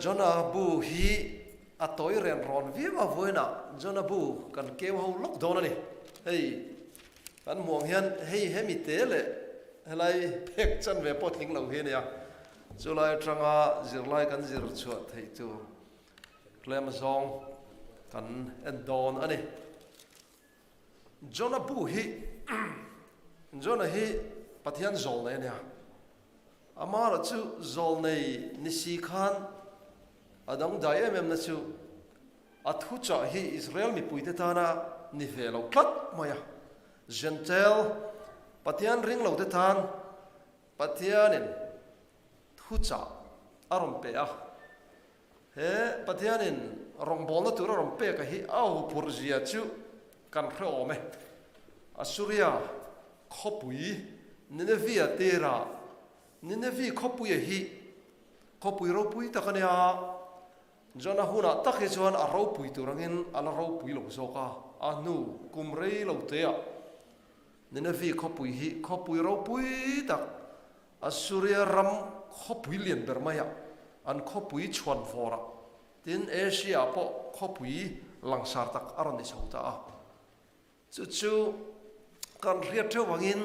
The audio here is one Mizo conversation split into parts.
Jonah bu hi a tawi ren rawn viau a vuaina Jonah bu kan keu ho lawk dawn a ni. Hei kan hmuh ang hian hei he mi te leh helai phek chanve pawh tling lo hi a ni a. Chulai atanga zirlai kan zir chhuah theih tur tlem zawng kan en dawn a ni. Jonah pu hi Jonah hi Pathian zawl nei a nia. Ama erawh chu zawl nei ni si khan a dang dai em em na chu a thu chah hi Israel mipui te tana ni ve lo tlat mai a. Gentile Pathian ring lo te than Pathianin thu chah a rawn pe a. He Pathianin rawngbawlna tura rawn peka hi a aw phurh zia chu kan hreawm e. Assuria khawpui Ninevia tira Nineveh khawpuia hi khawpui ropui tak a nia. Jonah hunah tak hi chuan a ropui tur angin a la ropui lo zawk a, a hnu kum rei lo te ah Nineveh khawpui hi khawpui ropui tak Assyria ram khawpui lian ber maia an khawpui chhuan vawr a, tin Asia ah pawh khawpui langsar tak a rawn ni chho ta a. Chu chu kan hriat theuh angin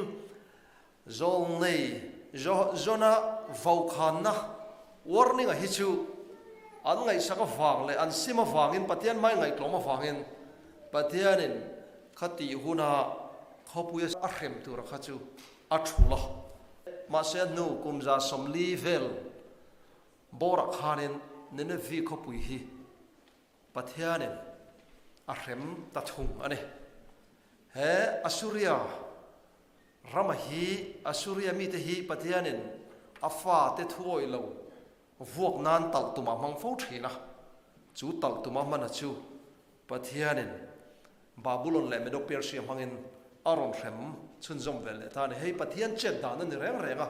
zawl nei Jonah-a vawkhanna, warning, a hi chu an ngaihsak avang leh an sim avangin Pathian hmai ngaihtlawm avangin Pathianin kha tih huna khawpui a hrem tura kha chu a thu la. Mahse, a nu Kumza Sawmli vel bawrah khanin Nineveh khawpui hi Pathianin a hrem ta thung a ni. He Assyria rama hi, Assyria mite hi Pathianin a fate thuawih lo Vuak nan talh tumah hmang fo thin a, chu talh tuma hmana chu Pathianin Babulon leh Medo-Persia hmangin a rawn hrem chhunzawm ve leh ta a ni. Hei Pathian chet dan a ni reng reng a.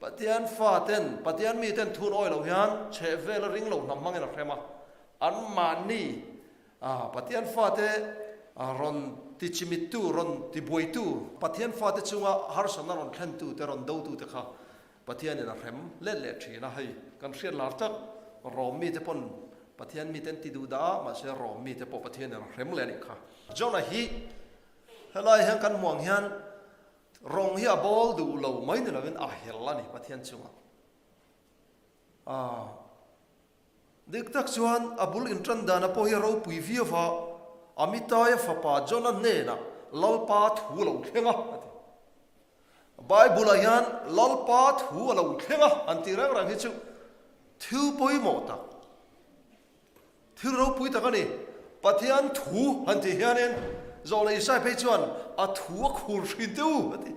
Pathian faten, Pathian miten thun awi loh hian chhehvela ring lo hnam hmangin a hrem a. Anmahni Pathian fate rawn tichimittu, rawn tibuaitu, Pathian fate chunga harsatna rawn thlentute, rawn dotute kha Pathian in a hrem let leh thin a, hei kan hriat lar chak, Rome mite pawn Pathian mite an ti duh dah a, mahse Rome mite pawh Pathian in a hrem leh a nih kha. Jonah hi helai hian kan hmuh ang hian rawng hi a bawl duh lo mai ni lo in a hel a ni Pathian chungah. Aah Dik tak chuan a bul inṭan dana pawh hi a ropui viau a, Amitaia fapa Jonah hnena Lalpa thu a lo thleng a, a ti. Bible-ah hian Lalpa thu a lo thleng a an tih rang rang hi chu thil pawimawh tak, thil ropui tak a ni. Pathian thu han tih hianin Jonah Isai phei chuan a thu a khur hrinte u, a ti.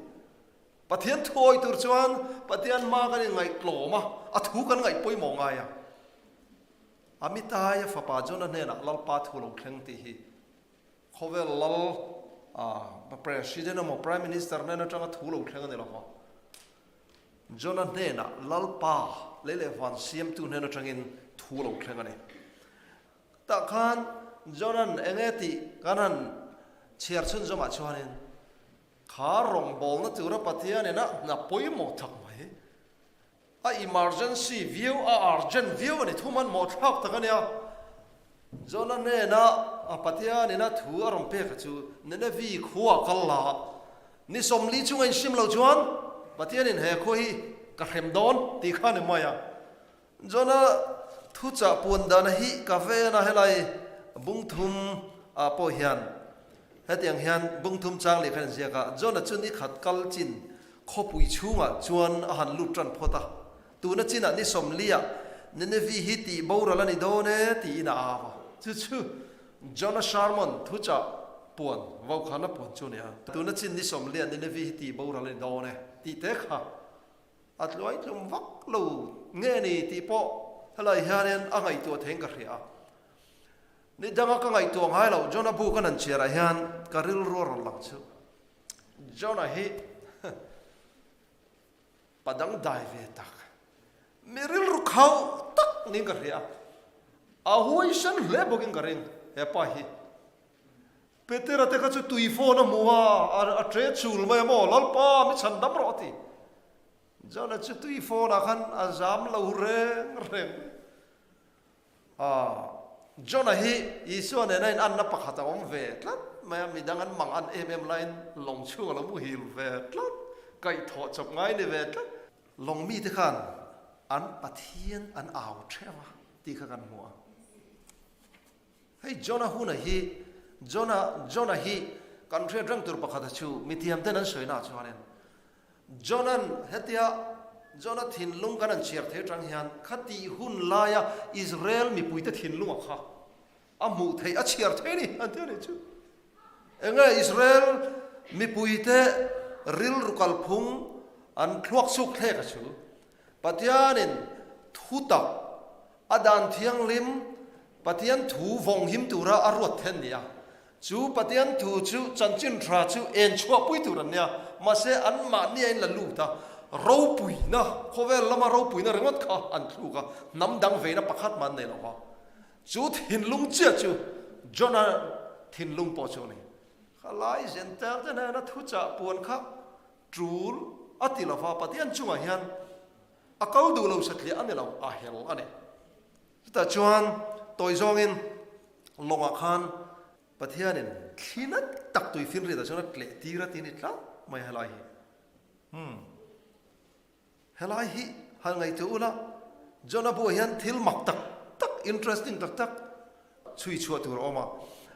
Pathian thuawi tur chuan Pathian hma kan inngaih tlawm a, a thu kan ngaih pawimawh ngai a. Amitai-a fapa Jonah hnenah Lalpa thu lo thleng tih hi khawvel lal a, President emaw Prime Minister nen atanga thu lo thleng a ni lo va. Jonah hnenah Lalpa, lei leh van Siamtu hnen atangin thu lo thleng a ni. Tah khan Jonah-n eng nge tih kan han chhiar chhun zawngah chuanin Thar rawngbawlna tura Pathianin a hna pawimawh thlak mai. A emergency viau, a urgent viau a ni. Thu man mawhthlak tak a nia. Jonah hnena Pathianin a thu a rawn pek a chu Nineveh khua a kal la a. Ni sawmli chunga in hrim lo chuan Pathianin he khua hi ka hrem dawn tih kha a ni mai a. Jona thuchah puan dana hi ka ve a na helai bungthum ah pawh hian hetiang hian bungthum chang lehkha in ziak a, Jona chu nikhat kal chin khawpui chhungah chuan a han lut tan phawt a, tuna chinah ni sawm lia Nineveh hi tih boral a ni dawn e tiin a au a. Chu chu Jona Sharmon thuchah puan vaukhana puan chu a ni a, tuna chin ni sawm lia Nineveh hi tih boral a ni dawn e tih te kha A tluai tlum vak lo nge ni tih pawh helai hianin a ngaihtuah theiin ka hria a. Ni danga ka ngaihtuah ngai lo, John-a bu ka nan chhiarah hian ka rilru a rawn lang chhu. John-a hi pa dang dai ve tak, mi rilru khauh tak niin ka hria a. A huaihran hle bawkin ka ring, He pa hi Petera te kha chu tui fawn a hmu a, a ṭe chul mai emaw, Lalpa, mi chhan dam rawh a ti. Johnah chu tui fawnah khan a zam lo reng reng. Aw, Johnah hi Isua nena inanna pakhat a awm ve tlat mai a, midang an mang an em em laiin lawng chhung a lo muhil ve tlat, kaihthawh chawp ngai ni ve tlat. Lawng mite khan an Pathian an au ṭhema tih kha kan hmu a. Hei Jonah huna hi, Jonah, Jonah hi kan hriat reng tur pakhat a chu mithiam ten an sawi na chuanin Jonah-n hetia Jonah thinlung kan an chhiar theih atang hian khati hun laia Israel mipuite thinlung a kha a hmuh theih a chhiar theih a ni an tia nih chu. Enge Israel mipuite rilru kalphung an thluak chuk thlek a chu Pathianin thutak A dan thianghlim Pathian thu vawng him tura a ruat theih an ni a. Chu Pathian thu chu chanchinhra chu en chhuahpui tur an nia. Mahse anmah ni ain la lut a, ropuina, khawvel lama ropuina ringawt kha an thluk a, hnam dang veina pakhat mah an nei lo va. Chu thinlung chiah chu John-a thinlung pawh chu a ni. Kha lai Gentile te hnena thuchah puan kha tul a ti lo va, Pathian chungah hian a kal duh lo sa tliah a ni lo a hel a ni. Chutah chuan tawi zawngin lawngah khan Pathianin thli nat tak tui finriatah chuan a tleh tir a ti a ni tlat mai a helai hi. Umm. Helai hi han ngaihtuah ula, Jonah bulah hian thil mak tak tak, interesting tak tak chhui chhuah tur a awm a.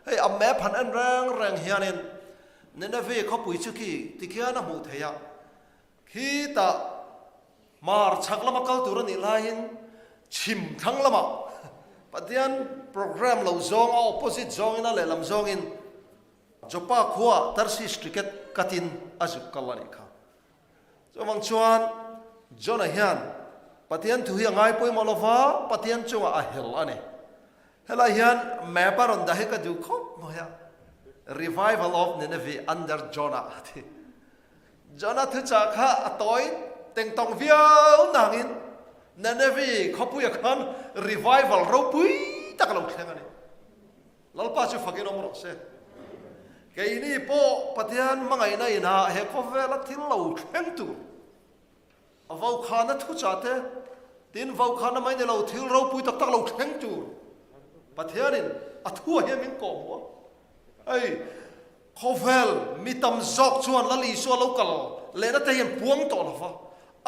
Hei a map han en reng reng hianin Nineveh khawpui chu khi tikhian a hmuh theih a. Khi ta hmar chhak lama kal tur anih laiin chhim thlang lama Pathian programme lo zawng a opposite zawngin a lehlam zawngin Jopa khua Tarsis ticket katin a zuk kal anih kha. Chuvang chuan Jonah hian Pathian thu hi a ngai pawimawh lova Pathian chungah a hel ani. Helai hian map a rawn dah hi ka duh khawp mai a, Revival of Nineveh under Jonah a ti. Jonah thuchah kha a tawiin teng tawng viau nangin Nineveh khawpuia khan revival ropui tak lo thleng a ni. Lalpa chu fakin awm rawh se. Keini pawh Pathian hmangaihna inah he khawvela thil lo thleng tur. A vaukhana thu chah te, tin vaukhana mai ni lo thil ropui tak tak lo thleng tur Pathianin a thu ah hian min kawh hmu a. Hei khawvel mi tam zawk chuan Lal Isua lo kal lehna te hian puang tawh lo va,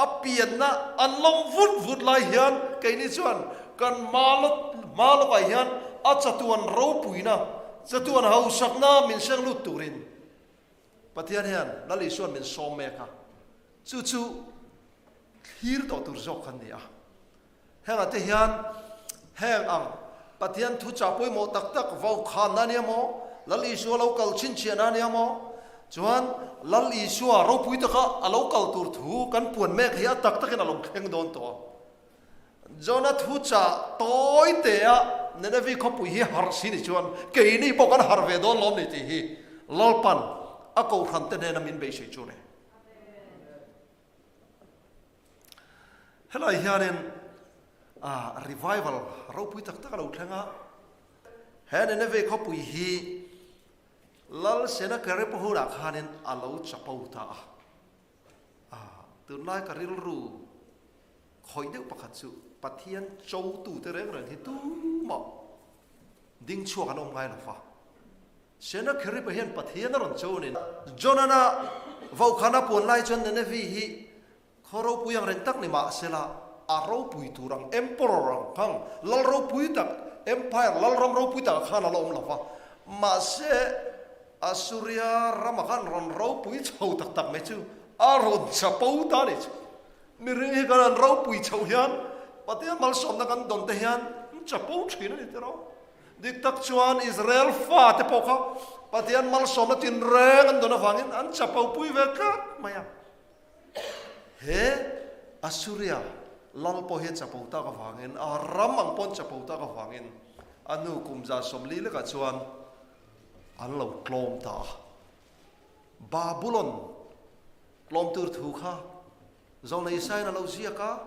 a pianna an lawm vut vut lai hian keini chuan kan hma lawk ah hian a chatuan ropuina, chatuan hausakna min hreng lut turin Pathian hian Lal Isuan min sawm mek a, chu chu thlir tawh tur zawk khan ni a. Hengah te hian heng ang Pathian thuchah pawimawh tak tak vo khan na nia maw? Lal Isua lo kal chhinchhiah na nia maw? Chuan Lal Isua ropui taka a lo kal tur thu kan puan mek hi a tak takin a lo thleng dawn tawh a. Jonah thu chah tawi te a, Nineveh khawpui hi har si ni chuan keini pawh kan har ve dawn lawm ni tih hi Lalpan a kohrante hnena min beisei chu ni. Helai hianin revival ropui tak tak a lo thleng a, he Nineveh khawpui hi Lal Sennacherib huna khanin a lo chapo ta a. Aa, tunlai ka rilru khawih deuh pakhat chu Pathian cho tute reng reng hi tumah ding chhuak an awm ngai lo va. Senakheripa hian Pathian a rawn cho nen a. Jonana vokhal a puan lai chuan Nenevi hi khaw ropui ang reng tak ni mah se la, a ropui tur ang, emperor ang khan, lal ropui tak, empire, lalram ropui tak ah khan a la awm lo va. Mahse, Assuria rama khan rawn ropui chho tak tak mai chu a rawn chapo ta leh chu. Miri hi kan an ropui chhoh hian Pathian malsawmna kan dawn te hian an chapo thin a ni tira. Dik tak chuan Israel fa te pawh kha Pathian malsawmna tinreng an dawn avangin an chapopui ve tlat mai a. He Assuria lal pawh hi chapo tak avangin a ram ang pawh an chapo tak avangin a hnu kumza sawmli lekah chuan, An lo tlawm ta a. Babulon tlawm tur thu kha Jonah Isaiah-in a lo ziak a,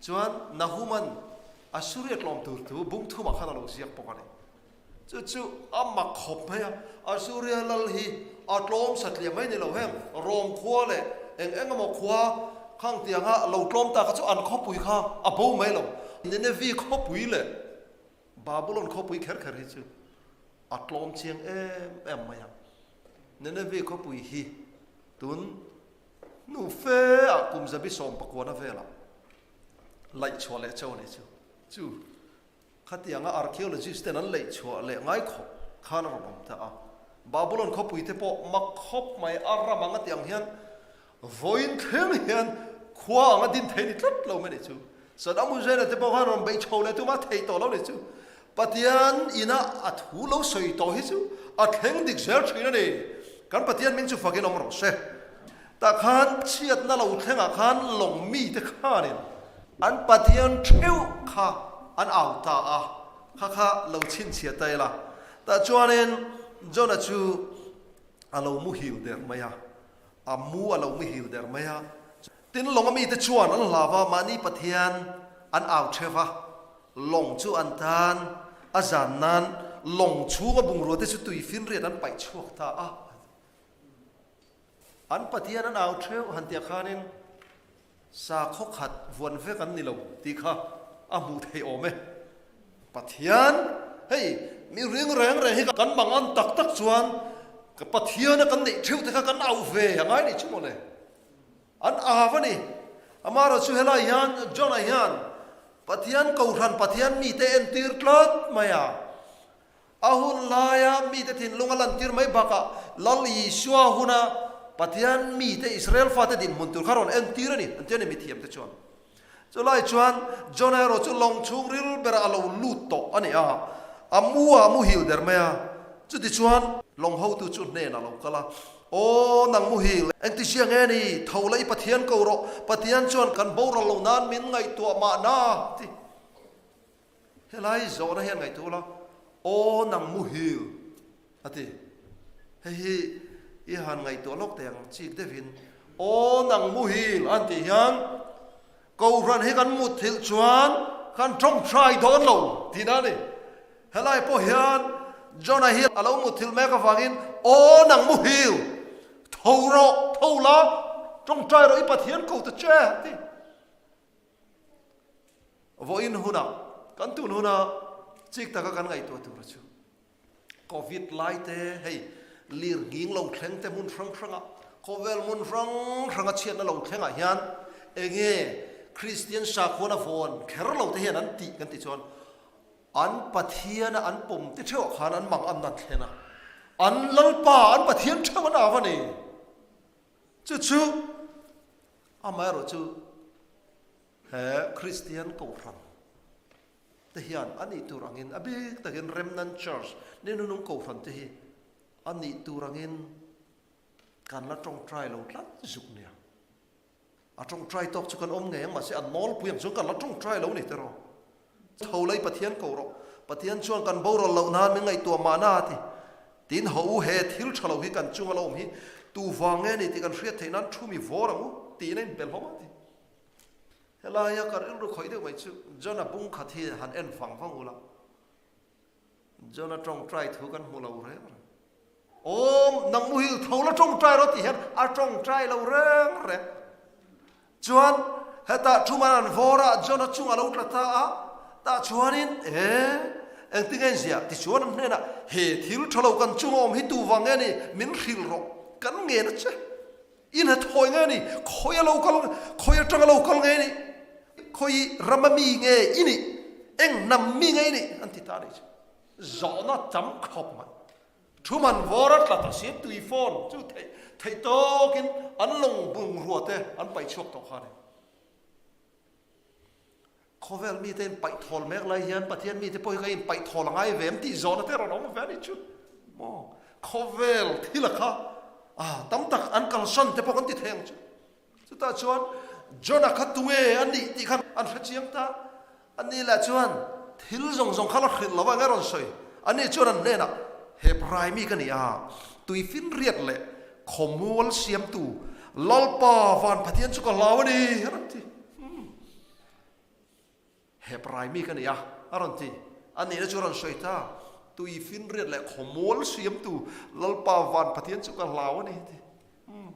chuan Nahuman Assyria tlawm tur thu bumthum ah khan a lo ziak bawk a ni. Chu chu a mak khawp mai a, Assyria lal hi a tlawm satliam mai ni lo heng, Rome khua leh eng eng emaw khua kha ang tiang a lo tlawm ta kha chu an khawpui kha a bo mai lo. Nineveh khawpui leh Babylon khawpui kher kher hi chu a tlawm chiang em em mai a. Nineveh khawpui hi tun hnu fe a kum zabi sawm pakuana vela laih chhuah leh chau ni chu chu khatiang a archaeologist ten an laih chhuah leh ngai khawp khan a rawn awm ta a. Babylon khawpui te pawh mak khawp mai a ram anga tiang hian Vawiin thleng hian khua anga din thei ni tlat lo mai neih chu. Sadam Hussain-a te pawh khan rawn bei chho leh tuma thei tawh lo neih chu. Pathian ina a thu lo sawi tawh hi chu a thleng dik zel thin a ni. Kan Pathian hming chu fakin awm rawh se. Tah khan chhiatna lo thlengah khan lawng mite khanin an Pathian theuh kha an au ta a, kha kha lo chhinchhiah ta ila. Tah chuanin Jonah chu a lo muhil der mai a. A mu a lo mihil der mai a. Tin, Lawng a mite chuan an hlau va, mahni Pathian an au che va. Lawng chu an tan a zan nan Lawng chhunga bungraute chu tui finriat an paih chhuak ta a. An Pathian an au theuh han tia khanin Sa khawkhat vuan vek an ni lo tih kha a hmuh theih awm e. Pathian, hei mi ring reng reng hi kan mang an tak tak chuan ka Pathiana kan neih theuhte kha kan auh ve a ngai nih chu maw le? An au a ni. Amaherawh chu helai hian John-a hian Pathian kohhran Pathian mite entir tlat mai a. A hun laia mite thinlung a lantir mai bakah Lal Isua huna Pathian mite Israel fate dinhmun tur kha rawn entir a ni, an ti a ni mithiamte chuan. Chulai chuan Jonah erawh chu lawng chhung ril berah a lo lut tawh a ni a, a mu a muhil der mai a. Chutichuan lawng hotu chu hnenah a lo kal a, Aw nang muhil, engti zia nge ni? Tho la i Pathian ko rawh, Pathian chuan kan boral lo nan min ngaihtuah mahna ti. Helai zawhna hi a ngaihtuh la, Aw nang mu hil! a ti. Hei hi i han ngaihtuah lawk thei ang, chik deuhin Aw nang mu hil! a tih hian Kohhran hi kan mutthilh chuan kan ṭawng ṭhai dawn lo tih dan a ni. Helai pawh hian Jonah Hill a lo mutthilh mek avangin Aw nang mu hil! Tho rawh, tho la, ṭawng ṭhai rawh i Pathian ko ta che! a ti. Vawiin hunah kan tun huna chik taka kan ngaihtuah tura chu Covid lai te hei lir nghing lo thleng te hmun hrang hranga khawvel hmun hrang hranga chhiatna lo thlengah hian enge Kristian sakhuana vawn kher lo te hian an tih kan ti chuan an Pathiana an pawmte theuhah khan an mangamna an thlen a, an Lalpa an Pathian theuh an au a ni. Chu chu amaherawh chu he Kristian Kohhran te hian a nih tur angin a bik takin Remnant Church ni nunung Kohhran te hi a nih tur angin kan la tawngtai lo tlat zuk nia. A tawngtai tawk chu kan awm ngei ang mahse a nawlpui ang chuan ka la tawngtai lo nei teraw. Tho lei Pathian ko rawh, Pathian chuan kan boral loh nan min ngaihtuah mahna a ti. Tin, Haw u, he thil tha lo hi kan chunga lo awm hi tu vang nge ni tih kan hriat theih nan thu mi vawr ang u tiin a inpe hlawm a ti. Helaia ka rilru khawih deuh mai chu John-a bungkhat hi han en vang vang ula. John a tawngtai thu kan hmu lo reng reng. Awm, nang mu hi u tho la tawngtai rawh tih hian a tawngtai lo reng reng. Chuan heta thu man an vawr a, John a chungah lo tla ta a, tah chuanin e, eng tinge in ziah? Tichuan an hnenah he thil tha lo kan chunga awm hi tu vang nge ni? Min hrilh rawh, kan ngen a che. I hna thawi nge ni? Khawi a lo kal, khawi atang a lo kal nge ni? Khawi ram a mi nge i ni? Eng hnam mi nge i ni? An ti ta a nih chu. Zawhna tam khawp mai. Thu man vawr a tlat asin tui fawn chu theih theih tawkin an lawng bungrua te an pai chhuak tawh kha nen. Khawvel mite in paih thawl mek lai hian Pathian mite pawh hi ka in paih thawl a ngai ve em tih zawh nate rawn awm ve a ni chu maw? Khawvel thila kha tam tak an kal hran te pawh kan ti thei ang chu. Chutah chuan Jonah kha tunge a nih tih khan an hre chiang ta. Ani leh chuan thil zawng zawng kha la hrilh lo vang e rawn sawi. Ani chuan an hnenah, Hebrai mi ka ni a, tui finriat leh Khawmual siamtu Lalpa Van Pathian chu ka hlau a ni a rawn ti. Hum. Hebrai mi ka ni a, a rawn ti. A nihna chu a rawn sawi ta. Tui finriat leh khawmual siamtu Lalpa Van Pathian chu ka hlau a ni a ti. Hum.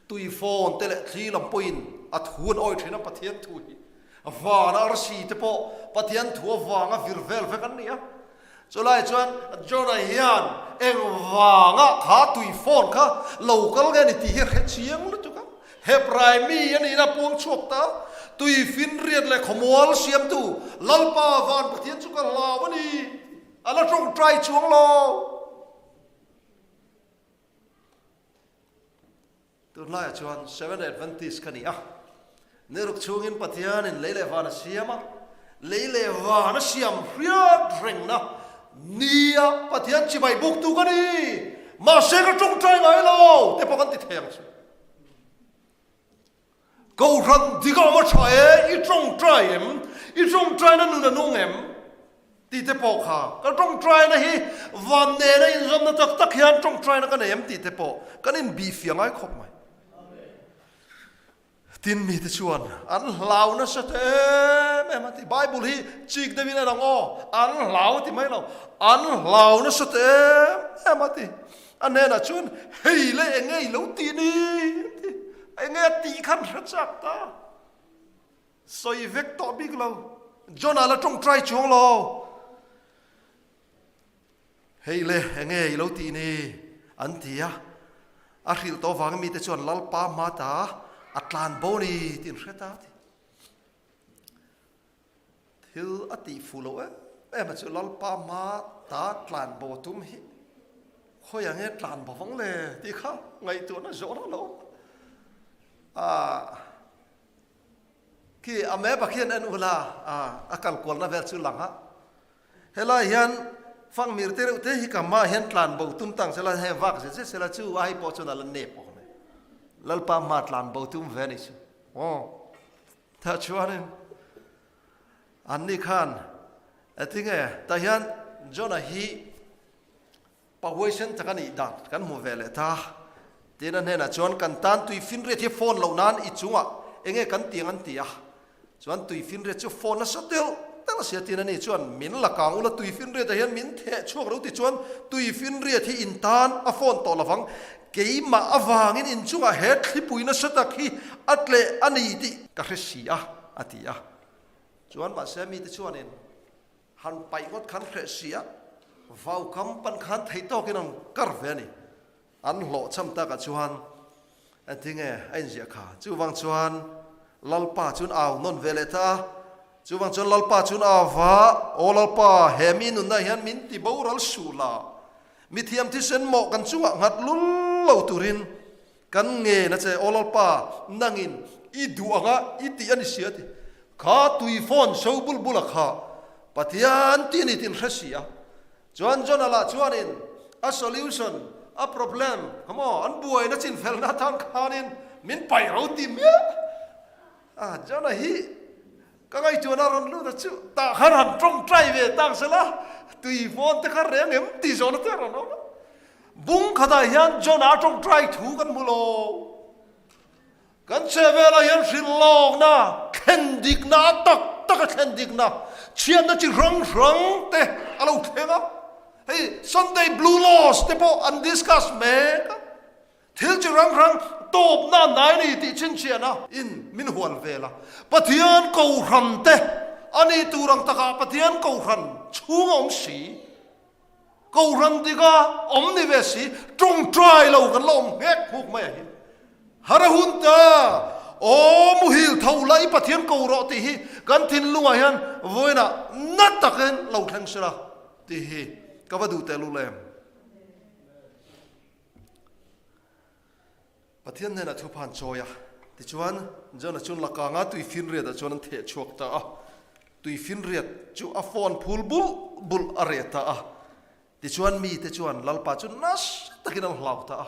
Tui phone te leh thli lam pawhin a thu an awi thin a Pathian thu hi. Vana arsi te pawh Pathian thu avanga vir vel vek an ni a. Chulai chuan Jonah hian engvanga kha tui fawn kha lo kal nge ni tih hi a hre chiang lutuk a. Hebrai mi a nihna a puang chhuak ta a, tui finriat leh khawmual siamtu Lalpa van Pathian chu ka hlau a ni, a la tawng tai chuang lo. Tun hlaiah chuan Seventh-day Adventist ka ni a, niruk chungin Pathianin lei leh van a siam a, lei leh van a siam hriat rengna nia Pathian chibai buktu ka ni, mahse ka ṭawngṭai ngai lo te pawh kan ti thei ang chu. Kohhran dingah ma tha e, i tawng try em? I tawng try na nuna nung em? tih te pawh kha ka tawng try na hi van nena inzawmna tak tak hian tawng try na ka nei em tih te pawh kan inbih fiah ngai khawp mai. Tin mite chuan an hlau nasa ta em em a ti. Bible hi chik deuhin a lang aw, an hlau ti mai lo, an hlau nasa ta em em a ti. A hnenah chuan, Hei la eng nge i lo tih ni? a ti. Eng nge a tih khan hre chak ta. Sawi vek tawh bik lo. Jonah la tawngtai chuang lo. Hei la eng nge i lo tih ni? an ti a. A hrilh tawh vang mite chuan Lalpa hma ta a tlan bo ni? tiin hre ta a ti. Thil a tih fuh loh em em a chu Lalpa hma ta tlan bo tum hi khawi ang e tlan bo vang le tih kha ngaihtuah na zawh rang lo ah khi a map ah khian an ula a kal kual na vel chu lang a helai hian fakmir te reuh te hi ka hma hian tlan bo tum tang sela heng vak zet zet sela chu ai pawh chuan ala nep awm e Lalpa hma tlan bo tum ve a ni chu aw Tah chuanin, Anni khan, A ti nge? Tah hian Jonah hi pahuai sen tak a nih dan kan hmuh ve leh ta. Tiin a hnenah chuan, Kan tan tui finriat hi phone loh nan i chungah enge kan tiang an ti a. Chuan tui finriat chu phone la saw telh telh a si a tiin a ni. Chuan min la kang ula tui finriatah hian min theh chhuak lo ti chuan tui finriat hi in tan a phone tawh lovang. Keimah avangin inchungah he thlipui nasa tak hi a tleh a ni tih ka hre si a, a ti a. Chuan mahse mite chuanin, Han paih ngawt khan hreh si a, vau kam pan khan theih tawkin an kar ve a ni. An hlawh cham takah chuan engtinge a inziah kha. Chuvang chuan Lalpa chuan au nawn veleh ta a. Chuvang chuan Lalpa chuan a va, Aw Lalpa, he mi nunna hian min ti boral suh la, mithiam thisen mawh kan chungah nghat lul lo turin kan ngen a che. Aw Lalpa, nangin i duh ang a, i tih a ni si a ti kha tui phone so bul bula kha Pathian ti ni tin hre si a. Chuan Jonala chuanin a solution, a problem, hamaw an buaina chinfelna tan khanin min paih roti miah. A Jonah hi ka ngaihtuah la rawn lut a chu tah kha rawn tawngtai ve tak zel a, tui hmawn te kha reng em tih zawhna te a rawn awm a. Bung khatah hian Jonah a tawngtai thu kan hmu lo. Kan chhe velah hian hrilh lawkna, thlen dikna a tak tak a thlen dikna, chhiatna chi hrang hrang te a lo thleng a. Hei Sunday blue loss te pawh an discuss mek a. Thil chi rang rang tawpna nai ni tih chhinchhiahna in min hual vel a. Pathian Kohhran te a nih tur ang takah Pathian Kohhran chhung a awm si. Kohhran dik a awm ni ve si, tawngtai lo kan la awm nghek hmuk mai ahi. Hara hun ta, aw muhil tho la i Pathian ko rawh tih hi kan thinlung ah hian vawiina nat takin lo thleng sila tih hi ka va duh teh lul em. Pathian nen a thu phan chawi a. Tichuan, Jonah chu lakanga tui finriatah chuan an theh chhuak ta a. Tui finriat chu a fawn phul bulh bulh a reh ta a. Tichuan, mite chuan Lalpa chu nasa takin an hlau ta a.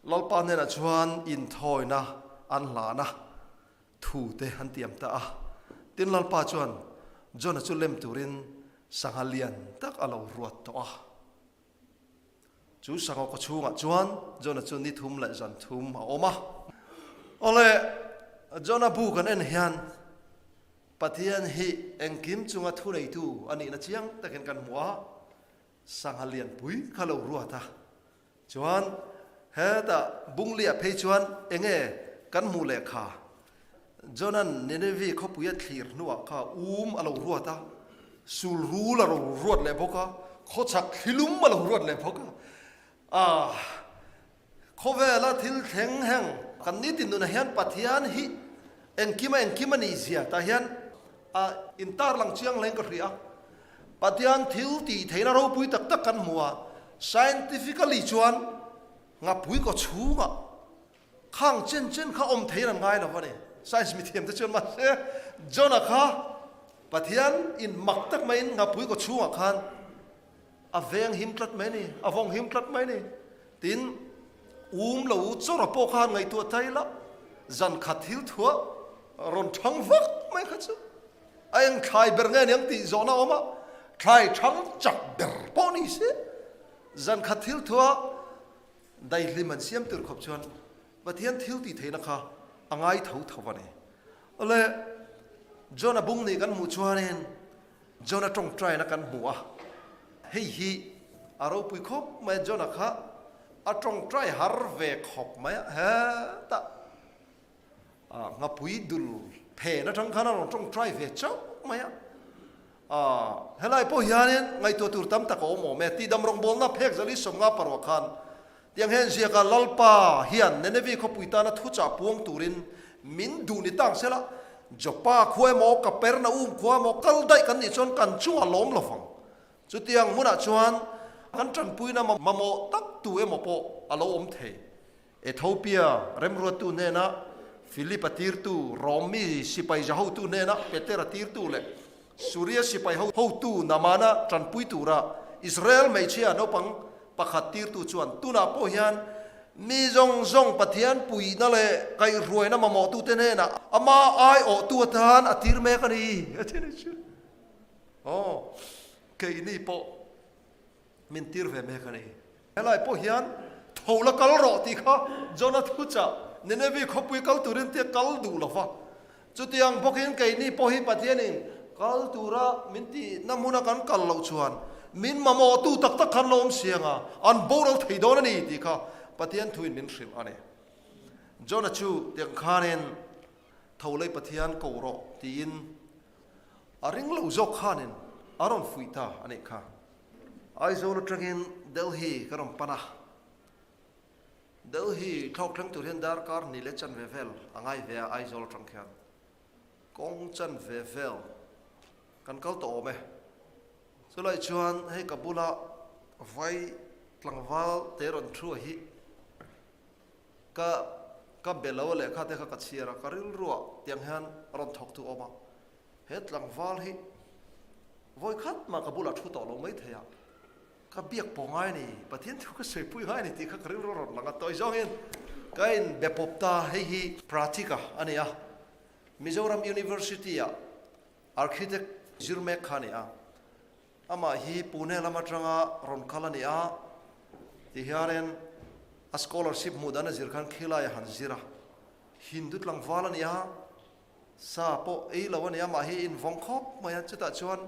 Lalpa hnenah chuan inthawina an hlan a, thu te an tiam ta a. Tin, Lalpa chuan Jonah chu lem turin sangha lian tak a lo ruat tawh a. Chu sangha khaw chhungah chuan Jonah chu ni thum leh zan thum a awm a. Awle, Jonah bu kan en hian Pathian hi engkim chunga thuneitu a nihna chiang takin kan hmu a, sangha lianpui kha lo ruat a. Chuan, hetah bungliah phei chuan enge kan hmuh leh kha? Jona'n Nineveh khawpuia thlir hnuah kha um a lo ruat a, sulrul a lo ruat leh bawk a, khawchhak thlilum a lo ruat leh bawk a. Aah! Khawvela thil thleng heng kan ni tin nunah hian Pathian hi engkim a engkim a nih zia tah hian a intarlang chiang hleng ka hria. Pathian thil tih theihna ropui tak tak kan hmu a, scientifically chuan ngapui kawchhungah Khang chen chen kha awm thei ran ngai lo a ni. Science mithiam te chuan mahse Jonah kha Pathian in mak tak mai in ngapui kaw chhung ah khan a veng him tlat mai a ni, a vawng him tlat mai a ni tiin um lo u chawra pawh khan ngaihtuah ta ila zan khat thil thuah rawn thang vak mai kha chu a eng thlai ber nge niang tih zawhna awm a thlai thang chak ber pawh ni si zan khat thil thuah Daihlim an siam tir khawp chuan Pathian thil tih theihna kha a ngai tho tho a ni. Awle, Jonah bum nih kan hmuh chuanin Jonah tawngtaina kan hmu a. Hei hi a ropui khawp mai a, Jonah kha a tawngtai har ve khawp mai a. He tah Ngapui dul phen atang khan a rawn tawngtai ve chauh mai a, helai pawh hianin ngaihtuah tur tam tak a awm awm e, tihdam rawngbawlna phek zali sawm nga parua khan tiang he ziaka Lalpa hian Nenevi khawpui tana thuchah puang turin min duh ni tang sela, Joppa khua emaw Kapernaum khua emaw kal daih kan nih chuan kan chungah lawm lo vang, chutiang hmunah chuan kan tanpuina mamawh tak tu emaw pawh a lo awm thei. Ethiopia remruattu hnena Philip a tirtu, Rome mi sipai zia hotu hnena Peter a tirtu leh Suria sipai ho hotu Namana tanpui tura Israel hmeichhia naupang pakhat tirtu chuan tunah pawh hian mi zawng zawng Pathian puihna leh kaihhruaina mamawhtute hnena ama aiawhtu atan a tir mek a ni. A then a chu, Aw, keini pawh min tir ve mek a ni. Helai pawh hian, Tho la kal rawh tih kha Jonah thu chah Nineveh khawpui kal tur in tia kal duh lo va. Chutiang bawk in kei ni pawh hi Pathian in kal tur a min ti na hmun a kan kal loh chuan min mamawh tu tak tak khan lawm siang a an boral thei dawn a ni tih kha Pathian thu in min hrilh a ni. Jonah chu tiang khan in Tho lei Pathian ko rawh tiin a ring lo zawk khan in a rawn fuih ta a nih kha. Aizawl atangin Delhi ka rawn pan a. Delhi thlawk thleng tur hian darkar hnih leh chan ve vel a ngai ve a Aizawl atang khian. Kawng chan ve vel kan kal tawh awm e. Chulai chuan hei ka bula vai tlangval te rawn thu a hi ka ka belo lehkha te kha ka chhiar a, ka rilru ah tiang hian rawn thawk thu a awm a. he tlangval hi vawi khat mah ka bulah thu tawh lo maithei a, ka biak pawh ngai ni, Pathian thu ka sawi pui ngai ni tih kha ka rilru rawn lang a, tawi zawngin ka inbe pawp ta hei hi Pratika a ni a, Mizoram University-a Architect zir mek kha a ni a, amah hi Pune lam atanga rawn kal a ni a, ti hianin a scholarship hmuh dan a zir khan Khilai-a han zir a, Hindu tlangval a ni a, Sa pawh ei lo a nia, mah hi in vawng khawp mai a, chutah chuan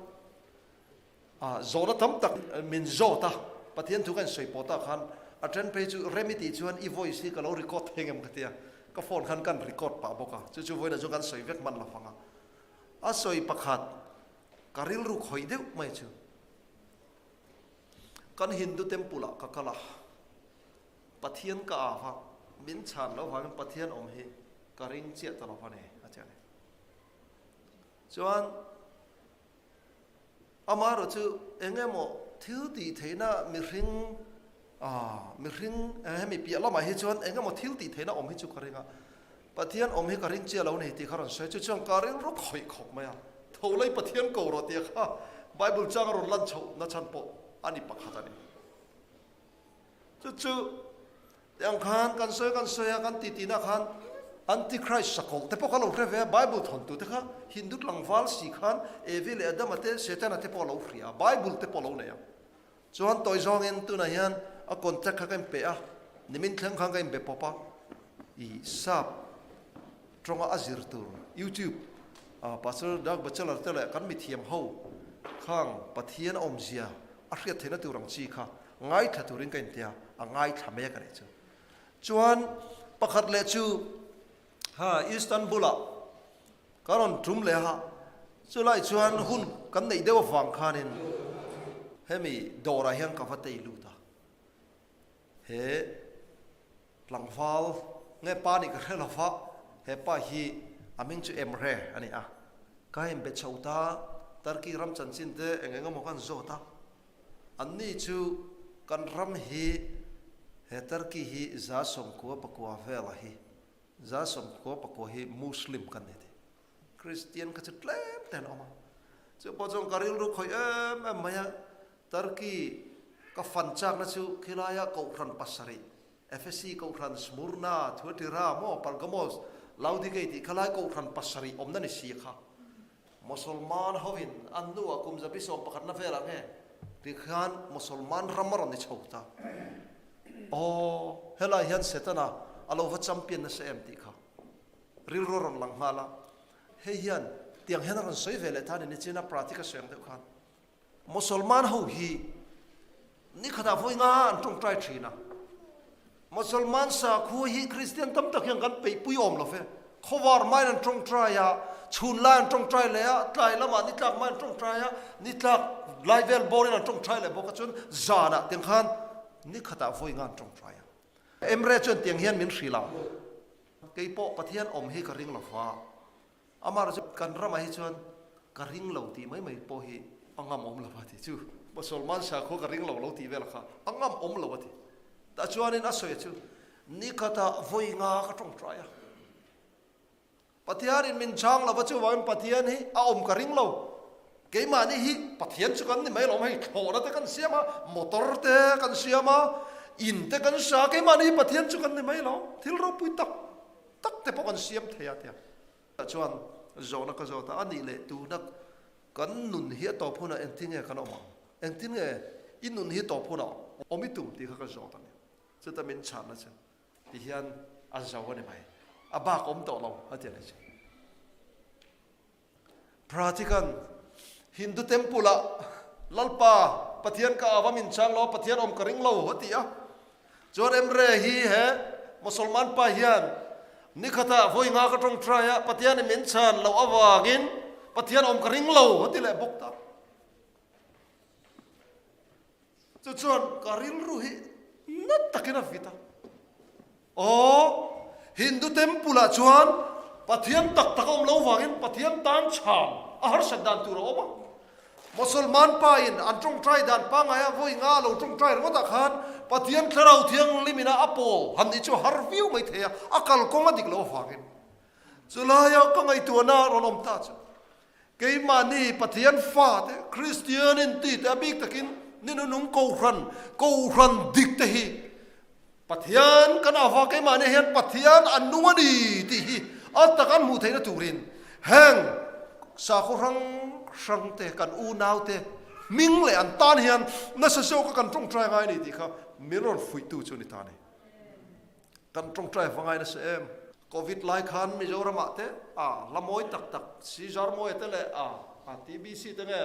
ah zawhna tam tak min zawt a, Pathian thu ka in sawi pawh ta khan a then phei chu Remy tih chuan i voice hi ka lo record thei ngem ka tia, ka phone khan kan record pah bawk a, chu chu vawiin ah chuan kan sawi vek hman lo fanga, a sawi pakhat ka rilru khawih deuh mai chu kan Hindu temple ah ka kal a, Pathian ka âv a, min chhân lo vangin Pathian awm hi ka ring chiah ta lo va ni, a ti a ni. Chuan amaherawh chu eng emaw thil tih theihna mihring a, mihring hemi piah lamah hi chuan eng emaw thil tih theihna awm hi chu ka ring a, Pathian awm hi ka ring chiah lo ni tih kha rawn sawi a, chu chuan ka rilru khawih khawp mai a, tholai Pathian ko rawh tia kha Bible changa rawn lan chhoh nachhan pawh a ni pakhat a ni. Chu chu tiang khan kan sawi kan sawi a kan ti ti na khan Antichrist sakawlh te pawh ka lo hre ve a Bible thawn tu te kha Hindu tlangval si khan Evi leh Adama te Setana te pawh a lo hria a Bible te pawh a lo nei a chuan tawi zawng in tunah hian a contact kha ka in pe a nimin thleng khan ka in be pawp a i sap tawnga a zir tur YouTube a Pastor Doug Batchelor te leh kan mithiam ho khang Pathian a awmzia a hriat theihna tur ang chi kha ngaithla turin ka inti a, a ngaithla mai a ka nih chu. Chuan pakhat leh chu ha Istanbul-a ka rawn tum leh a, chulai chuan hun kan neih deuh avang khanin hemi dawrah hian ka va tei lut a, he tlangval nge pa nih ka hre lo a, he pa hi a ming chu Emre a ni a, ka inbe chho ta, Turkey ram chanchin te eng eng emaw ka inzawt a, Anni chu kan ram hi he Turkey hi Zasom khua pakua vela hi, Zasom khua pakua hi Muslim kan ni thei. Kristian kha chu tlem te an awm a. Chu pawh chuan ka rilru khawih em em mai a. Turkey ka fan chakna chu khilaiah Kohhran pasarih, Efesi Kohhran, Smurna, Thuatira maw, Pergamos, Laodikei tih kha lai Kohhran pasarih awmna ni si a kha. Mosolman hoin an nu a kum zabi sawm pakhatna vel ang e. Tikhian Mosolman ram a rawn ni chho ta. Aw, helai hian Setana a lo va champion nasa em tih kha rilru a rawn lang nghal a. Hei hian tiang hian a rawn sawi ve leh ta ni nichin a, Pratik a suih ang deuh khan. Mosolman ho hi nikhatah vawi nga an tawngtai thin a. Mosolman sakhaw hi Kristian tam tak hian kan peihpui awm lo fe. Khawvar main an tawngtai a, chhun lai an tawngtai leh a, tlai lamah ni tlak main an tawngtai a, ni tlak lai vel bawrin an tawngtai leh bawk a, chuan zanah tiang khan nikhatah vawi nga an tawngtai a. Emre chuan tiang hian min hrilh a, kei pawh Pathian awm hi ka ring lo va. Amar chu kan ramah hi chuan ka ring lo tih mai mai pawh hi a ngam awm lo a ti chu. Paw Salman Shah khaw ka ring lo lo tih vel kha a ngam awm lo a ti. Tah chuanin a sawi chu, Nikhatah vawi nga ka tawngtai a. Pathianin min chang lo a chuvangin Pathian hi a awm ka ring lo. Keimahni hi Pathian chu kan ni mai lo, hei thlawhna te kan siam a, motor te kan siam a, in te kan hrang a, keimahni hi Pathian chu kan ni mai lo. Thil ropui tak. tak te pawh kan siam thei a tia. Tah chuan zawhna ka zawt a, a nih leh tuna kan nun hi a tawp hunah engtin nge kan awm ang? Engtin nge i nun hi tawp hunah awm i tum tih kha ka zawt a ni. Chuta min chhahna chu tihian a zo a ni mai, a bak awm tawh lo a ti a ni chu. Prati khan Hindu temple ah Lalpa, Pathian ka ava min chang lo a, Pathian awm ka ring lo a ti a. Chuan Emre hi he Musalman pa hian nikhat ah vawi nga ka tawng try a, Pathian i min chhan loh avangin Pathian awm ka ring lo a ti leh bawk tak. Chu chuan ka rilru hi nat takin a vit a, Aw, Hindu temple ah chuan Pathian tak tak a awm lo vangin Pathian tan chhang a harsat dan tur a awm a, Musalman pa in an tawngtai dan pangai a vawi nga a lo tawngtai ringawt ah khan Pathian thlarau thianghlim in a a pawl han nih chu a har viau mai thei a, a kalkawng a dik loh avangin. Chulai a ka ngaihtuahna a rawn awm ta chuan Keimahni Pathian fate, Kristian intite a bik takin ni nunung kohhran, kohhran dik te hi Pathian kan ava keimahnia hian Pathian an nung a ni tih hi a takan hmuh theihna turin heng sakhaw hrang hrang te, kan unau te hming leh an tan hian nasa zawka kan tawngtai ngai a ni tih kha min rawn fuihtu chu a ni ta a ni. Kan tawngtai hmangaih nasa em? Covid lai khan Mizoramah te a hlamawi tak tak si zar maw e te leh a a TBC te nge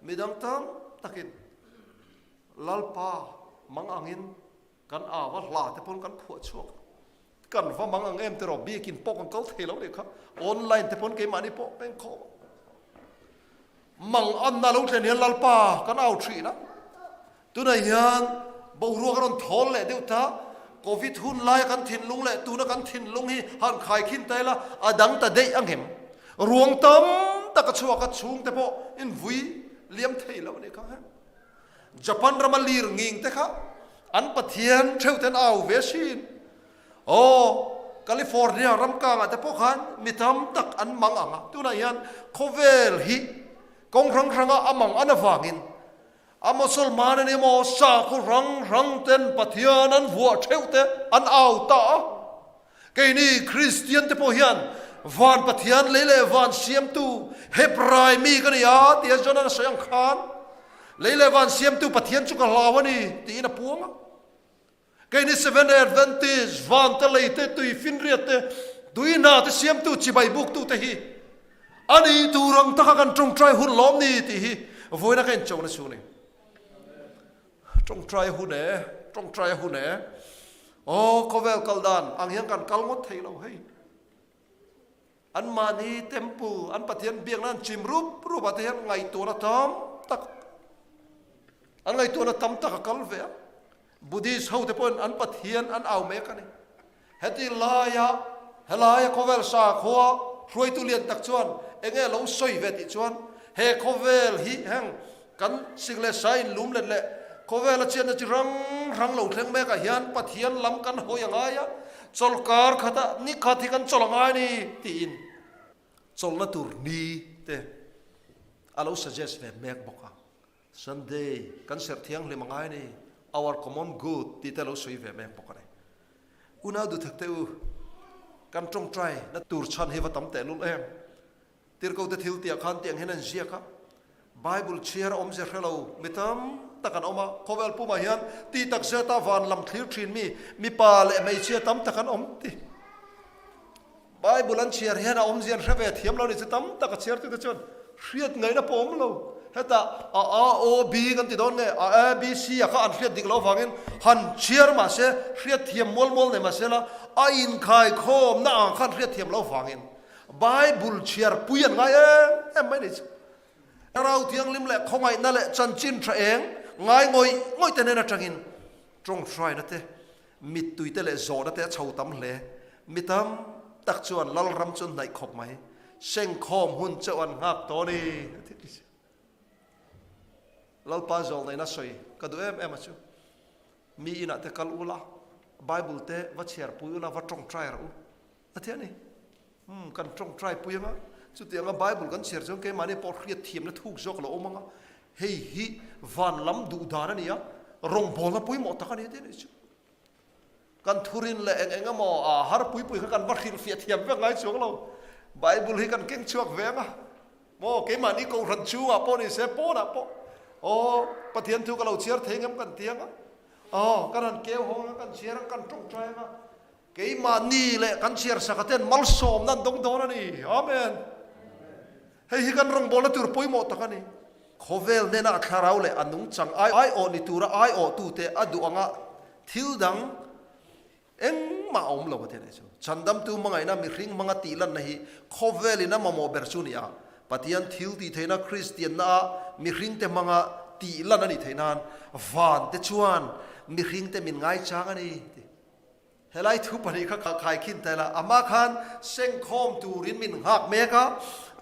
midang tam takin Lalpa mang angin kan a va hla te pawn kan phuah chhuak kan va mang ang em te rawh bikin pawh kan kal thei lo leh kha online te pawn keimahni pawh engkhawm Mang an na lo tlen hian Lalpa kan au thin a, tunah hian boruak a rawn thawl leh deuh ta, Covid hun lai kan thinlung leh tuna kan thinlung hi han khai khin ta ila a dang ta daih a nghem. Ruang tam taka chhuak a chhung te pawh invui liam thei lo a ni kha. Japan rama lir nging te kha an Pathian theute'n au ve chin. Aw, California ram kangah te pawh khan mi tam tak an mang ang a, tunah hian khawvel hi kawng hrang hranga a mang an avangin a Mosalman nen emaw sakhaw hrang hrang ten Pathian an vuah theuh te an au ta a. Keini Kristian te pawh hian van Pathian lei leh van siamtu Hebrai mi ka ni a tia Jonah-n a sawi ang khan, lei leh van siamtu Pathian chu ka hlau a ni tiin a puang a. Kei ni Seventh Day Adventist, Vante lei te, tui finriat te, tui hna te siamtu chibai buk tu te hi a nih tur ang taka kan tawngtai hun lawm ni tih hi vawiina ka inchawh na chu ni. Tawngtai hun e, tawngtai hun e, aw khawvel kal dan ang hian kan kal ngawt thei lo hei. An mahni temple, an Pathian biakna an chim rup rup ah te hian ngaihtuahna tam tak, an ngaihtuahna tam tak a kal ve a. Buddhist ho te pawhin an Pathian an au mek a ni. Heti laia, helaia khawvel sa khua hruaitu lian tak chuan eng nge lo sawi ve tih chuan he khawvel hi heng Kan sik leh sai in lum let leh khawvel a chiatna chi hrang hrang lo thleng mek ah hian Pathian lam kan hawi a ngai a, chawl kar khat ah ni khat hi kan chawl a ngai a ni tiin chawlhna tur ni te a lo suggest ve mek bawk a, Sunday kan serh thianghlim a ngai a ni, our common good tih te a lo sawi ve mek bawk a ni. Unau duhthek te u, kan tawngtai na tur chhan hi va tam tehlul em! Tirhkote thil tiah khan tiang hian an ziak a, Bible chhiar a awm zia hre lo mi tam tak an awm a. Khawvel pumah hian ti tak zeta van lam thlir thinmi mipa leh hmeichhia tam tak an awm ti. Bible an chhiar hian a awmzia an hre ve thiam lo ni chu tam tak a chhiartute chuan hriat ngaihna pawh a awm lo. Heta a a o b kan ti dawn nge a a b c a kha an hriat dik lo vangin han chhiar mah se hriat thiam mual mual nei mah se la a inkhaikhawmna ang khan hriat thiam lo vangin Bible chhiarpui an ngai em em mai nei chu. Thlarau thianghlim leh khawngaihna leh chanchin tha eng ngai ngawih ngawih te nen atangin tawng hraina te, mittui te leh zawhna te a chho tam hle. Mi tam tak chuan Lalram chu an hnaih khawp mai. Sengkhawm hun cheu an nghak tawh a ni. Lalpa zawlnaina sawi ka duh em em a chu. Mi inah te kal ula, Bible te va chhiarpui ula, va tawngtai rah u. A ti a ni. Umm, kan tawng try pui ang a. Chutiang a Bible kan chhiar chuan keimahni pawh hriat thiamna thuk zawk alo awm ang a. Hei hi van lam duh dan a ni a, rawngbawlna pawimawh tak a ni a ti a nih chu. Kan thurin leh eng eng emaw a har pui pui kha kan va hrilhfiah thiam vek ngai chuang lo. Bible hi kan keng chhuak ve ang a. Maw keimahni kohhran chhungah pawh ni se, pawnah pawh aw Pathian thu ka lo chhiar thei ngam kan ti ang a. Aw, kan han keu hawng ang a, kan chhiar ang, kan tawng try ang a. Keimah ni leh kan chhiarsakha ten malsawmna an dawng dawn a ni. Amen! Hei hi kan rawngbawlna tur pawimawh tak a ni. Khawvel hnena a thlarau leh a nungchang ai aiawh ni tura aiawhtute a duh anga thil dang engmah a awm lo ka ti a nih chu. Chandamtu hmangaihna mihring hmanga tihlanna hi khawvelin a mamawh ber chu a ni a, Pathian thil tih theihna Kristianna ah mihringte hmanga tihlan a nih theih nan vante chuan mihringte min ngaichang a ni tih. Helai thu pahnih kha ka kaikhin tel a, amah khan sengkhawm turin min nghak mek a,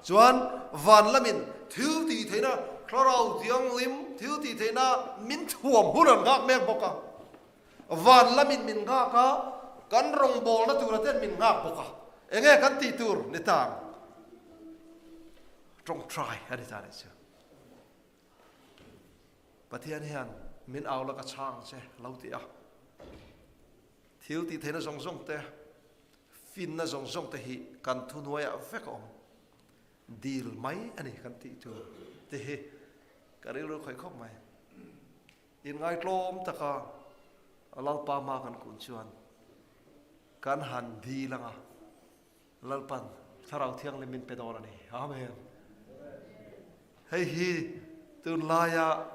chuan van lamin thil tih theihna Thlarau Thianghlim thil tih theihna min thuam hun an nghak mek bawk a, van lamin min nghak a, kan rawngbawlna tura ten min nghak bawk a, eng nge kan tih tur ni tan? Tawngtai a ni ta nih chu. Pathian hian min au laka chhang ang che alo ti a. Thil tih theihna zawng zawng te, finna zawng zawng te hi kan thunuai ah vek a awm. Dil mai a ni kan tih tur te hi ka rilru khawih khawp mai. In ngai tlawm taka Lalpa hma kan kun chuan kan han dil anga. Lalpan Thlarau Thianglimin pe dawr a ni. Amen. Hei hi tun laia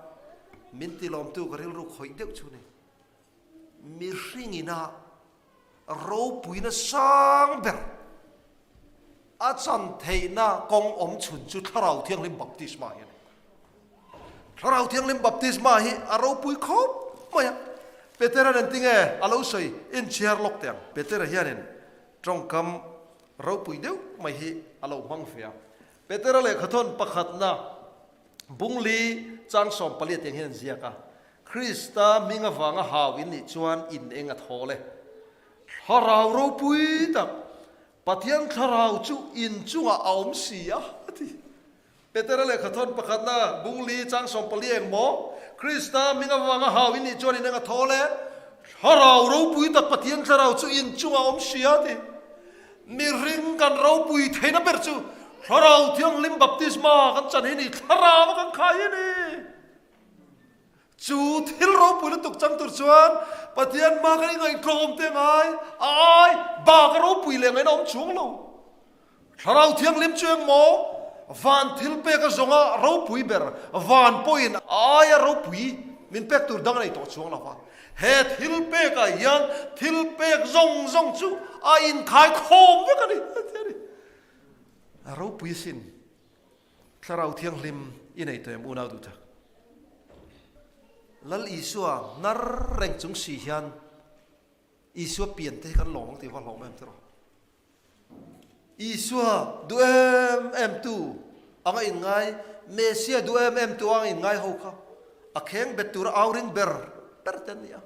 min tilawmtu ka rilru khawih deuh chu ni. Mihringina ropuina sang ber a chan theihna kawng awm chhun chu Thlarau Thianghlim Baptisma hi a ni. Thlarau Thianghlim Baptisma hi a ropui khawp mai a. Petera nen tinge a lo sawi inchhiar lawk teh ang. Petera hianin Tawngkam ropui deuh mai hi a lo hmang ve a. Petera lehkha thawn pakhatna Bungli chang sawm pali atiang hian an ziak a, Krista hming avanga hau in nih chuan in eng a thaw le? Thlarau ropui tak, Pathian thlarau chu in chungah a awm si a, a ti. Petera leh kha thawn pakhatna bung li chang sawm pali eng maw? Krista hming avanga hau i nih chuan in enga thaw le? Thlarau ropui tak Pathian Thlarau chu in chungah awm si a ti. Mihring kan ropui theihna ber chu Thlarau Thianghlim Baptisma kan chan hi ni, thlarau a kan khai hi ni. Chu thil ropui lutuk chang tur chuan Pathian hma kha i ngaihhlawm te ngai a ai bak a ropui leh ngaina awm chuang lo. Thlarau Thianghlim chu engmaw van thil pek a zawnga ropui ber van pawhin a ai a ropui min pek tur dang a nei tawh chuang lo va. He thil pekah hian thil pek zawng zawng chu a inkhaikhawm vek a ni. Ropui sin Thlarau thianghlim i nei tawh em unau duhthla? Lal Isua hnar reng chung si hian Isua pian te hi kan lawng ti va hlawm em tiraw? Isua duh em em tu anga in ngai Messia duh em em tu anga in ngai ho kha a kheng bet tura au ring ber ber te an ni a.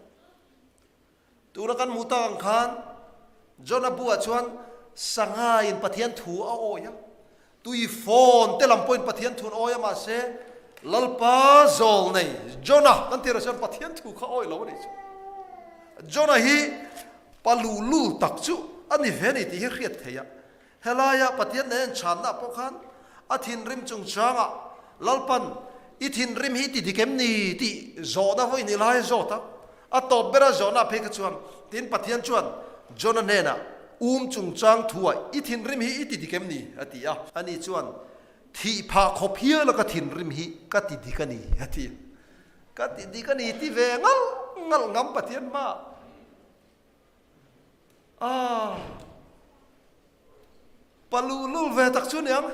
Tura kan hmuh tak ang khan Jonah bu-ah chuan sangain Pathian thu a awi a, tui fawn te lam pawhin Pathian thu an awi a, mahse Lalpa zawl nei Jonah kan tih loh chuan Pathian thu kha awih lo a nih chu. Jonah hi palu lul tak chu a ni ve a ni tih hi a hriat theih a, Helaia Pathian nen chhanna pawh khan a thinrim chung changah Lalpan, i thinrim hi ti dik em ni? tih zawh na vawi ni lai zawt a, a tawp bera zawhna phei kha chuan tin Pathian chuan Jonah hnena um chung chang thua i thinrim hi i ti dik em ni? a ti a. Ani chuan, Thih phah khawp hial a ka thinrim hi ka ti dik a ni, a ti a. Ka ti dik a ni ti ve ngalh ngalh ngam Pathian hmaah. Aaa paluh lul ve tak chu niang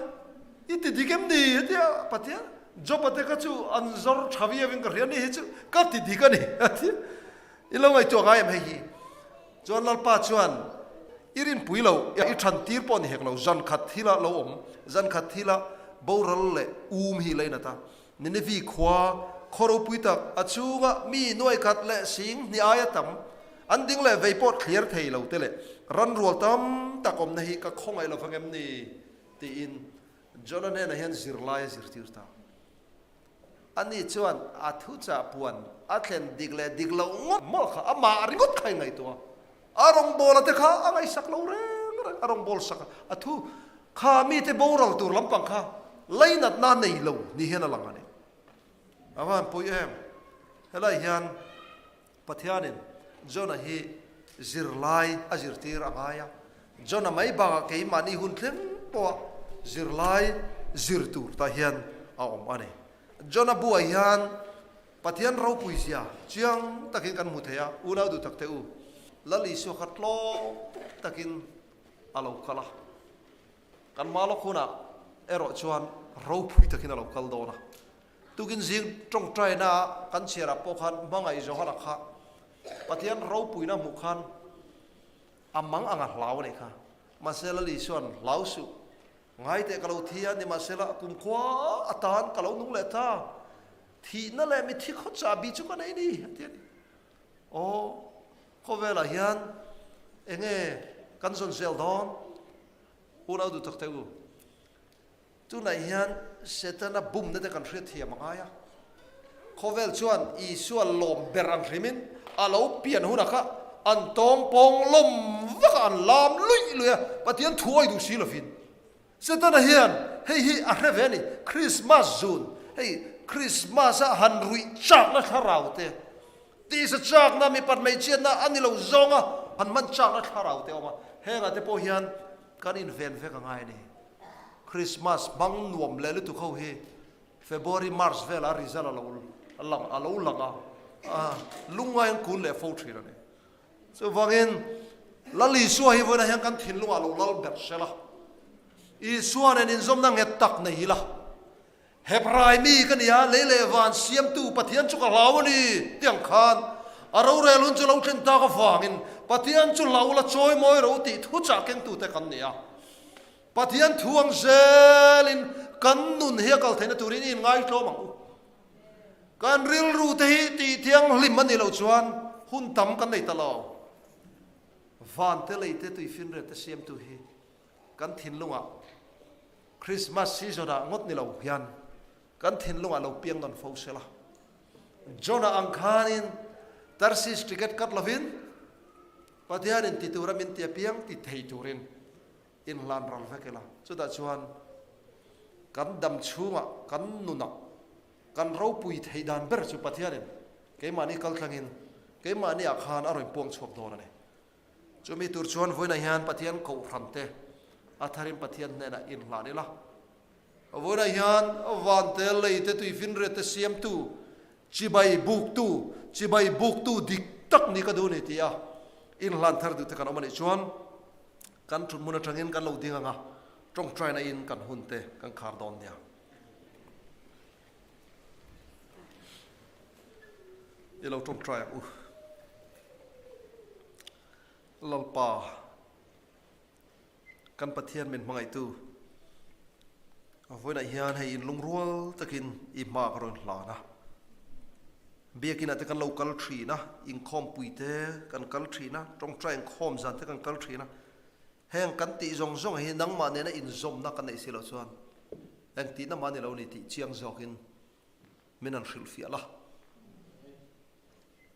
i ti dik em ni hetia Pathian job a te kha chu an zawr tha viau in ka hria ni hi chu ka ti dik a ni i lo ngaihtuah ngai em hei hi chuan Lalpa chuan i rinpui lo i than tir pawh a ni hek lo zankhat thil a lo awm zankhat thil a boral leh um hi la inat a. Nineveh khua khaw ropui tak a chunga mi nuai khat leh sing hnih ai a tam, an ding leh vei pawh thliar thei lo te leh ran rual tam tak awmna hi ka khaw ngaih lo vang em ni? tiin Jonah hnenah hian zirlai a zirtir ta. Ani chuan a thuchah puan a thlen dik leh dik loh ngawt mawlh kha amah ringawt kha i ngaihtuah a. A rawngbawla te kha a ngaihsak lo reng reng, a rawngbawla sak a thu kha mite boral tur lampang kha lei natna nei lo ni hian a lang a ni. A Vanpuii em, helai hian Pathianin Jonah hi zirlai a zirtir a ngai a, Jonah mai bakah keimahni hun thleng pawha zirlai zir tur tah hian a awm a ni. Jonah buai hian Pathian ropui zia chiang takin kan hmu thei a, unau duh tak te u, Lal Isua kha tlawm takin a lo kal a, kan hma lawk hunah erawh chuan ropui takin a lo kal dawn a. Tukin zing tawngtaina ah kan chhiarah pawh khan hmangaih zawha la kha Pathian ropuina hmuh khan a mang ang a hlau a nih kha, mahse Lal Isua'n hlau suh Ngai teh ka lo thi a, nimahsela kumkhua atan ka lo nung leh ta. Thihna leh mithi khaw chahbi chu ka nei ni, a ti a ni. Aw, khawvelah hian enge kan zawn zel dawn? U Naudu Takte u, tunah hian Setana bumna te kan hriat thiam a ngai a, Khawvel chuan Isua lawm ber an hlim in a lo pian hunah kha an tawng pawng lawm vakah an lam luih luih a, Pathian thu awih duh si lovin. Setana hian hei hi a hre ve a ni, Krismas zun, hei Krismasa han ruih chakna thlarau te, tisa chakna, mi pathmei chiatna a ni lo zawnga han hman chakna thlarau te a awm a, heng ah te pawh hian kan inven vek a ngai a ni. Krismas hmang nuam leh lutuk ho hi February, March vel a result a lo lang a lo lang a, a lungngai an kun leh fo thin a ni. Chuvangin Lal Isua hi vawiinah hian kan thinlung ah lo lal ber hre la. Isua nen inzawmna nghet tak nei ila. Hebrai mi ka nia, lei leh van siamtu Pathian chu ka hlau a ni tiang khan a rorel hun chu lo tlen tak avangin Pathian chu hlau la chawi mawi roti thuchah kengtute kan ni a. Pathian thu ang zel in kan nun hiakal theihna tur in in ngaitlawm ang u. Kan rilru te hi tih thianghlim a nih loh chuan hun tam kan nei ta lo. Van te lei te tui finrel te siamtu hi kan thinlung ah Christmas season ah ngawt ni lo hian kan thinlung ah lo piang nawn fo sela. Jonah ang khan in Tarsis ticket kat lo in Pathian in ti tur a min ti apiang ti thei tur in Inhlan ral vek ila, chutah chuan kan dam chhungah kan nunah kan ropui theih dan ber chu Pathianin keimahni kaltlangin keimahniah khan a rawn puang chhuak dawn a ni. Chumi tur chuan vawiinah hian Pathian kohhramte a tharin Pathian hnenah inhlan ila. A vawilah hian vantel lei te tuifinriat te siamtu, chibai buktu, chibai buktu dik tak ni ka duh ni tia inhlan thar duhte kan awm a nih chuan kan thutmun atangin kan lo ding anga tawngtaina in kan hun te kan khar dawn nia. I lo tawngtai ang u Lalpa. Kan Pathian min hmangaihtu, a vawiinah hian hei in lungrual takin i hma ka rawn hlan a. Biakinah te kan lo kal ṭhin a, inkhawmpui te kan kal ṭhin a, ṭawngṭai inkhawm zan te kan kal ṭhin a. Heng kan tih zawng zawng hi nangmah nena inzawmna ka neih si loh chuan eng tihna mah ni lo ni tih chiang zawkin min han hrilh fiah la.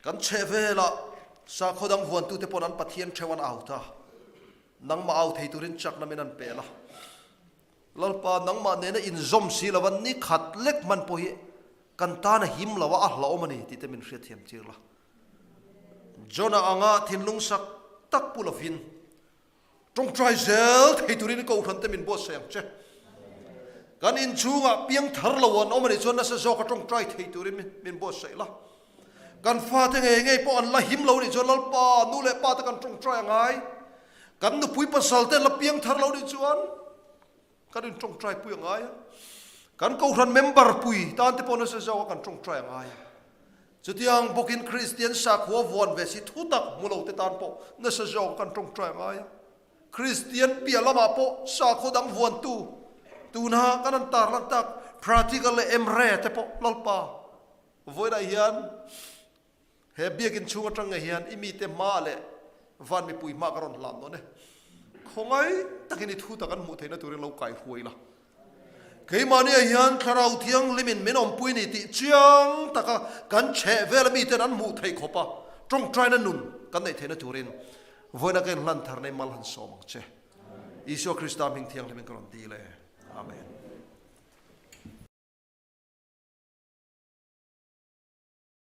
Kan chhehvelah sakhaw dang vuantute pawh an Pathian theu an au ta. Nangmah au thei turin chakna min an peh la. Lalpa, nangmah nena inzawm si lova ni khat lek hman pawh hi kan tan a him lo a, a hlawm a ni tite min hriatthiam tir la. John-a anga thinlung sak tak pu lovin Tawngtai zel thei turin kohhrante min buatsaih ang che. Kan in chhunga piang thar lo an awm a nih chuan nasa zawka tawngtai thei turin min buatsaih la. Kan fate ngei ngei pawh an la him lo nih chuan Lalpa, nu leh pa te kan tawngtai a ngai. Kan nupui pasalte an la piang thar lo nih chuan. Kan in tawngtai pui a ngai a, kan Kohhran member pui tan te pawh nasa zauh a kan tawngtai a ngai a. Chutiang bawkin Kristian sakhua vuan ve si thutak hmu lo te tan pawh nasa zawk a kan tawngtai a ngai a. Kristian piah lamah pawh sakhua dang vuantu tuna kan han tar lantak practical leh emre te pawh Lalpa vawilah hian He biakin chhung aṭange hian i mite hma leh van mipui hma ka rawn hlan dawn e. Khawngai takin i thu ta kan hmuh theihna turin lo kai huai la. Keimahnia hian Thlarau Thianglimin min awmpui ni tih chiang taka kan chheh vela mite'n an hmuh theih khawp a, ṭawngṭaina nun kan neih theihna turin vawiin a kan inhlan thar nei mal han sawm ang che. Isua Krista hming thianghlimin ka rawn dil e. Amen.